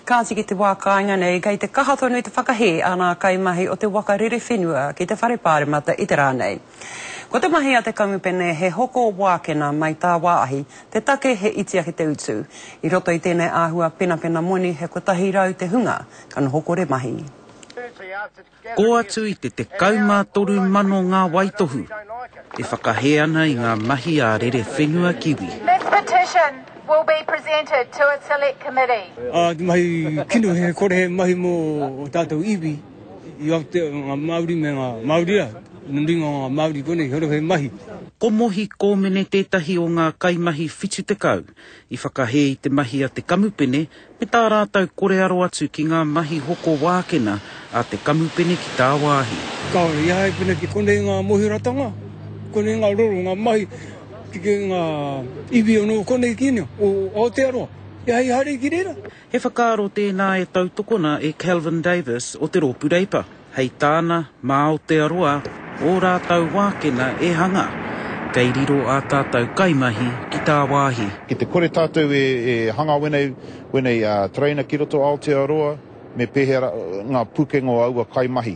Kāti ki te wā kāinga nei, kei te kaha tonu te whakahē a ngā kaimahi o te waka rere whenua ki te Whare Pāremata i te rā nei. Ko te mahi a te kamupene he hoko wākena mai tāwāhi, te take he iti ake te utu. I roto i tēnei āhua penapena moni he kotahi rau te hunga ka noho kore mahi. Kō atu i te 13 mano ngā waitohu e whakahē ana i ngā mahi a Rerewhenua Kiwi. This petition will be presented to a select committee. Ā, te mahi kino he kore he mahi mō ō tātou iwi i Aotea, ngā Māori me ngā Māoria, nō runga o ngā Māori konei, he ora he mahi. Ko Mohi Kōmene tētahi o ngā kaimahi 70 i whakahē i te mahi a te kamupene Ki tā rātou kore aro atu ki ngā mahi hoko wākena a te kamupene ki tāwāhi. Kāore i a hei pēnei ki konei ngā mohiratanga, konei ngā roro, ngā mahi, ki ngā iwi anō o konei ki inea, o Aotearoa. He hei hari ki reira. He whakaaro tēnā e tautokona e Kelvin Davis o te Rōpū Reipa. Hei tāna, mā Aotearoa ō rātou wākena e hanga, kei riro ā tātou kaimahi ki tāwāhi. Ki te kore tātou e hanga wenei, wenei tereina ki roto Aotearoa, me pēhea ra, ngā pūkenga o aua kaimahi.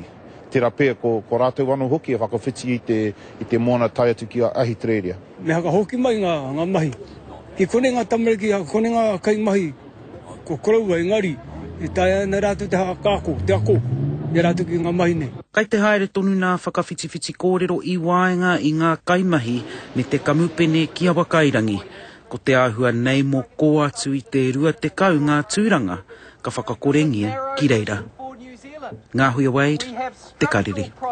Tera pea ko, ko rātou anō hoki e whakawhiti i te, i te moana tae atu ki a, Ahitereiria. Me hakahoki mai ngā, ngā mahi. Ki konei ngā tamariki, kone ngā kaimahi Ko koroua engari, e taea ana rātou te hākāko, te ako i a rātou ki ngā mahi nei. Kei te haere tonu nā Whakawhitiwhiti Kōrero i waenga i ngā kaimahi me te kamupene ki Awakairangi. Ko te āhua nei mō kō atu i te 20 ngā tūranga ka whakakorengia ki reira. Ngāhuia Wade, Te Karere.